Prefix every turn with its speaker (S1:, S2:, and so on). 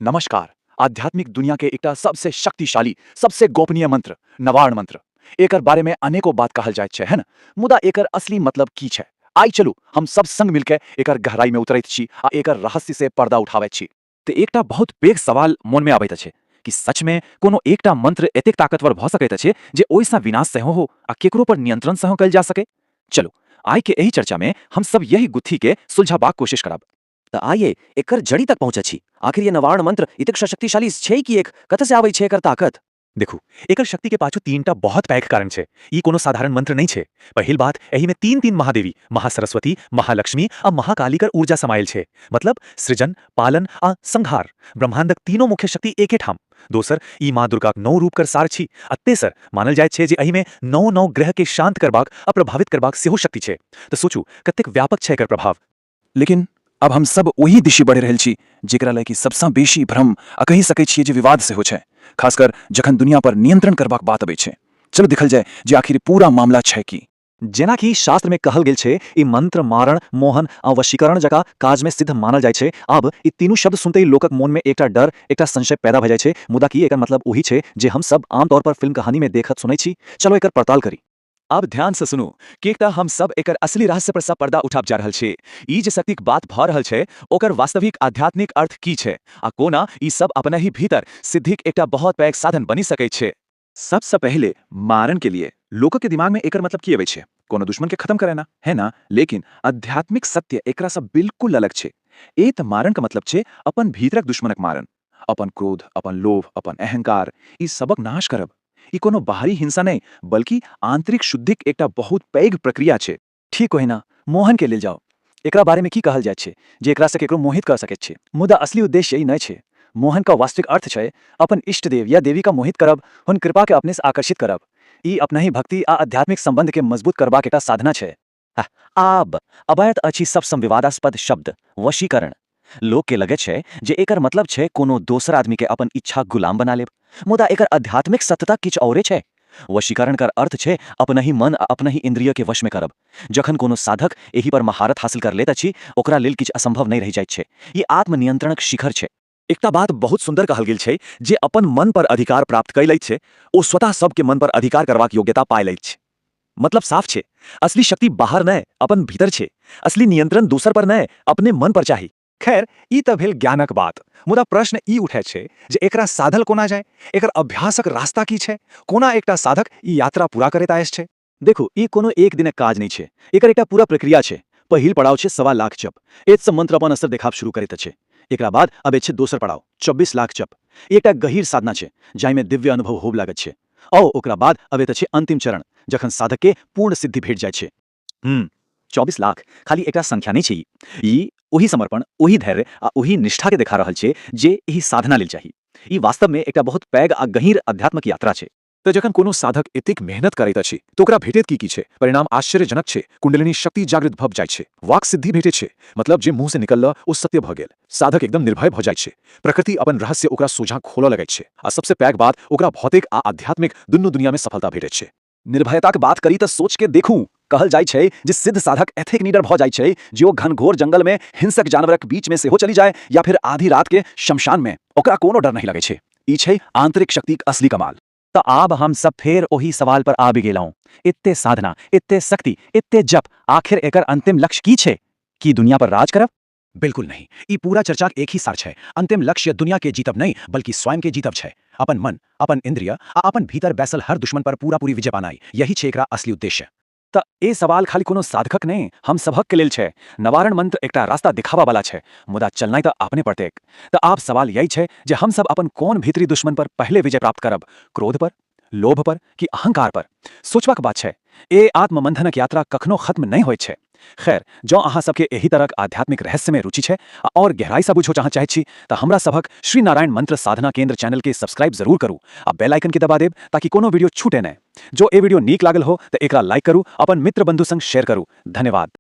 S1: नमस्कार! आध्यात्मिक दुनिया के एकटा सबसे शक्तिशाली, सबसे गोपनीय मंत्र, नवार्ण मंत्र। एकर बारे में अनेको बात कहल जाइत छै हन, मुदा एकर असली मतलब की छै? आइ चलू, हम सब संग मिल के एकर गहराई में उतरैत छी आ एकर रहस्य से पर्दा उठावैत छी। ते एकटा बहुत
S2: पैघ सवाल मोन में अबैत अछि, की सच में कोनो एकटा मंत्र एतेक ताकतवर भ सकैत अछि जे ओइ सं विनाश सेहो हो आ केकरो पर नियंत्रण सेहो कयल जा सकय? चलू, आइ के एहि चर्चा में हम सब यहि गुत्थी के सुलझाबाक कोशिश करब। त आइए
S3: एकर जड़ि तक पहुँचै छी। आखिर ये नवार्ण मंत्र इतेक शशक्तिशाली छै किएक? कतऽ से आबै छै एकर ताकत? देखू, एकर
S2: शक्ति के पाछू तीन टा बहुत पैघ कारण छै। ई कोनो साधारण मंत्र नइ छै। पहिल बात, एहि में तीन-तीन महादेवी, महासरस्वती, महालक्ष्मी आ महाकाली कर ऊर्जा समाएल छै। मतलब, सृजन, पालन आ संहार। ब्रह्मांडक तीनो मुख्य शक्ति एके ठाम। दोसर, ई माँ दुर्गाक नौ रूप कर सार छी। आ तेसर, मानल जाइत छै जे एहि में नौ-नौ ग्रह के शांत करबाक आ प्रभावित करबाक सेहो शक्ति छै। त सोचू, कतेक व्यापक छै एकर प्रभाव। लेकिन, आब
S1: हम सभ ओहि दिशि बढ़ि रहल छी जेकरा लए कि सभसँ बेसी भ्रम आ कहि सकैत छिऐ जे विवाद सेहो छै, खासकर जखन दुनिया पर नियंत्रण करबाक बात अबैत छै। चलू देखल जाए जे आखिर ई पूरा मामला छै की। जेना कि शास्त्र
S2: मे कहल गेल छै, ई मंत्र मारण, मोहन आ वशीकरण जकाँ काज मे सिद्ध मानल जाइत छै। आब, ई तीनू शब्द सुनतहि लोकक मोन मे एकटा डर, एकटा संशय पैदा भए जाइत छै। मुदा की एकर मतलब ओहि छै जे हम सभ आमतौर पर फिल्म कहानी मे देखत सुनैत छी? चलू एकर पड़ताल करी। आब ध्यान सँ
S4: सुनू, किएक तँ हम सभ एकर असली रहस्य पर सँ पर्दा उठाब जा रहल छी। ई जे शक्तिक बात भऽ रहल छै, ओकर वास्तविक आध्यात्मिक अर्थ की छै आ कोना ई सभ अपनहि भीतर सिद्धिक एकटा बहुत पैघ साधन बनि सकैत छै। सभ सँ पहिले,
S1: मारण के लिए। लोकक दिमाग मे एकर मतलब की अबैत छै? कोनो दुश्मन के खतम करयना, हैं न? लेकिन आध्यात्मिक सत्य एकरा सँ बिल्कुल अलग छै। ऐ तँ मारण क मतलब छै अपन भीतरक दुश्मनक मारण। अपन क्रोध, अपन लोभ, अपन अहंकार, ई सबक नाश करब। ई कोनो बाहरी हिंसा नहि, बल्कि आंतरिक शुद्धिक एकटा बहुत पैघ प्रक्रिया छै। ठीक ओहिना
S3: मोहन केँ लेल जाउ। एकरा बारे मे की कहल जाइत छै जे एकरा सँ केकरो मोहित कऽ सकैत छी। मुदा असली उद्देश्य ई नहि छै। मोहन क वास्तविक अर्थ छै अपन इष्टदेव या देवी क मोहित करब, हुन कृपा केँ अपने सँ आकर्षित करब। ई अपनहि भक्ति आ आध्यात्मिक संबंध केँ मजबूत करबाक एकटा साधना छै। आब अबैत अछि सबसँ विवादास्पद शब्द, वशीकरण। लोककेँ लगैत छै जे एकर मतलब छै कोनो दोसर आदमीकेँ अपन इच्छाक गुलाम बना लेब। मुदा एकर आध्यात्मिक सत्यता किछु औरे छै। वशीकरणकर अर्थ छै अपनहि मन आ अपनहि इन्द्रियकेँ वशमे करब। जखन कोनो साधक एहिपर महारथ हासिल कर लैत अछि ओकरा लेल किछु असम्भव नहि रहि जाइत छै। ई आत्मनियन्त्रणक शिखर छै। एकटा बात बहुत
S4: सुन्दर कहल गेल छै जे अपन मन पर अधिकार प्राप्त कय लैत छै ओ स्वतः सभके मन पर अधिकार करबाक योग्यता पाय लैत छै। मतलब साफ छै असली शक्ति बाहर नै अपन भीतर छै। असली नियंत्रण दोसर पर नै अपने मन पर चाही। खैर ई तँ भेल ज्ञानक बात मुदा प्रश्न ई उठैत छै जे एकरा साधल कोना जाय? एकर अभ्यासक रास्ता की छै? कोना एकटा साधक ई यात्रा पूरा करैत आएस छै? देखू ई कोनो
S3: एक दिनक काज नहि छै एकर एकटा पूरा प्रक्रिया छै पहिल पड़ाव छै सवा लाख जप एतसँ मंत्र अपन असर देखाब शुरू करैत अछि एकरा बाद अबैत छै दोसर पड़ाव चौबीस लाख जप ई एकटा गहीर साधना छै जाहिमे दिव्य अनुभव होब लागैत छै औ ओकरा बाद अबैत अछि अंतिम चरण जखन साधकके पूर्ण सिद्धि भेट जाइत छै हूँ चौबीस
S2: लाख खाली एकटा संख्या नहि छै ई ई ओहि समर्पण ओहि धैर्य आ ओहि निष्ठाके देखा रहल छै जे एहि साधना लेल चाही ई वास्तवमे एकटा बहुत पैघ आ गहीर अध्यात्मक यात्रा छै तऽ जखन कोनो साधक
S4: एतेक मेहनत करैत अछि तऽ ओकरा भेटैत की की छै? परिणाम आश्चर्यजनक छै। कुण्डलिनी शक्ति जागृत भऽ जाइत छै। वाक् सिद्धि भेटैत छै। मतलब जे मुँहसँ निकललऽ ओ सत्य भऽ गेल। साधक एकदम निर्भय भऽ जाइत छै। प्रकृति अपन रहस्य ओकरा सोझाँ खोलऽ लगैत छै। आ सबसँ पैघ बात ओकरा भौतिक आ आध्यात्मिक दुनू दुनियाँमे सफलता भेटैत छै। निर्भयताक बात
S3: करी तऽ सोचिकऽ देखू। कहल जाइत छै जे सिद्ध साधक एतेक निडर भऽ जाइत छै जे ओ घनघोर जंगल मे हिंसक जानवरक बीच मे सेहो चलि जाय या फेर आधी रात के शमशान मे। ओकरा कोनो डर नहि लगैत छै। ई छै आंतरिक शक्तिक असली कमाल। तँ आब हम
S2: सभ फेर ओहि सवाल पर आबि गेलहुँ। एते साधना, एते शक्ति, एते जप, आखिर एकर अंतिम लक्ष्य की छै? की दुनिया पर राज करब? बिल्कुल नहि। ई
S4: पूरा चर्चाक एक ही सार छै। अन्तिम लक्ष्य दुनिया के जीतब नहि, बल्कि स्वयं के जीतब छै। अपन मन, अपन इन्द्रिय आ अपन भीतर बैसल हर दुश्मन पर पूरा-पूरी विजय पानाइ, यही छै एकरा असली उद्देश्य। त ऐ सवाल
S3: खाली कोनो साधकक नहि, हम सबहक के लेल छै। नवारण मंत्र एकटा रास्ता देखाबा बला छै, मुदा चलनाइ त आपने पड़तैक। त आब सवाल यैह छै जे हम सब अपन कोन भीतरी दुश्मन पर पहिले विजय प्राप्त करब, क्रोध पर? लोभ पर कि अहंकार पर? सोचबाक बात छै। ए आत्ममंथनक यात्रा कखनो खत्म नै होइत छै। खैर, जँ अहाँ सभकेँ एहि तरहक आध्यात्मिक रहस्यमे रुचि छै आ आओर गहराइसँ बुझो चाहँ चाहैत छी तँ हमरा सभक श्री नारायण मंत्र साधना केंद्र चैनलकेँ सब्सक्राइब जरूर करू आ बेल आइकनकेँ दबा देब ताकि कोनो वीडियो छूटए नै। जँ ए वीडियो नीक लागल हो तँ एकरा लाइक करू, अपन मित्र-बंधु संग शेयर करू। धन्यवाद।